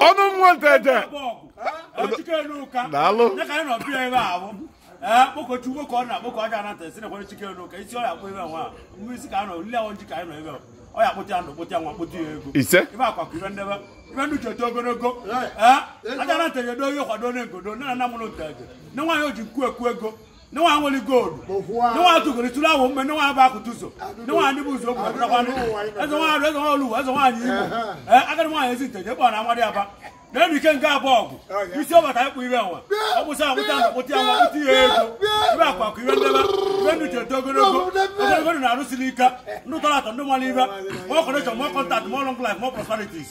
ọnụ nwa nteje daalụ kpọkuo chukwu ka ọ na-akpọku ajana nteje nakwara chike elu ka isi ọ ya akpọ ebe nwa mmiri isi ka a nọ nle ahụ nji ka anyị nọ ebe ọ ya akpụta ya ndụ kpụta ya nwa kpụta ya ego ise ife akwa kụrụ ndebe ife ndụ ji eto ogologo ajana nteje do ihe kwado onye ngodo nna nna mụrụ nteje nne nwaanyị o ji nkwu ekwu ego nne nwa nwere gold nne nwa tụgoro tụrụ awụ mme nne nwa bụ akụtụ ụzọ nne nwa ndị bụ ụzọ okwu ọbụlakwanụ eze nwa arụ eze nwa olu eze nwaanyị igbo ee agadi nwaanyị ezi nteje kpọrọ na amadiaba na-enu ikenga bụ ọgụ isi ọbata ịkpụ ire nwa ọkpụsa akpụta na akpụta ya nwa kpụta ya ego ife akwa kụrụ ndebe ife ndụ ji eto ogologo ogologo ndụ na-arụsiri ike ndụ tọrọ atọ ndụ mara ife more connection more contact more long life more prosperities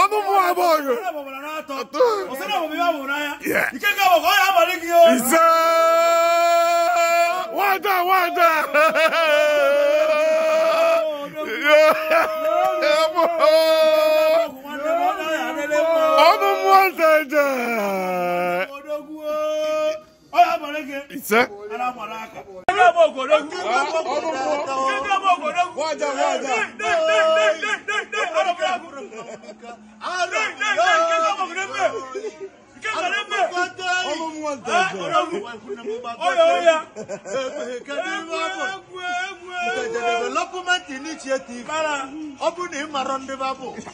ọnụ mụ abụọ gị ise nwada nwada ọnụ mụ ọzọ eje ise development initiative ọ bụ na ị mara ndị babụ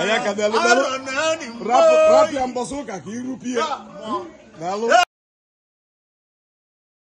Ayaka daalụ daalụ. Rapụ rapụ ya mbọsị ụka ka iru pie. Daalụ.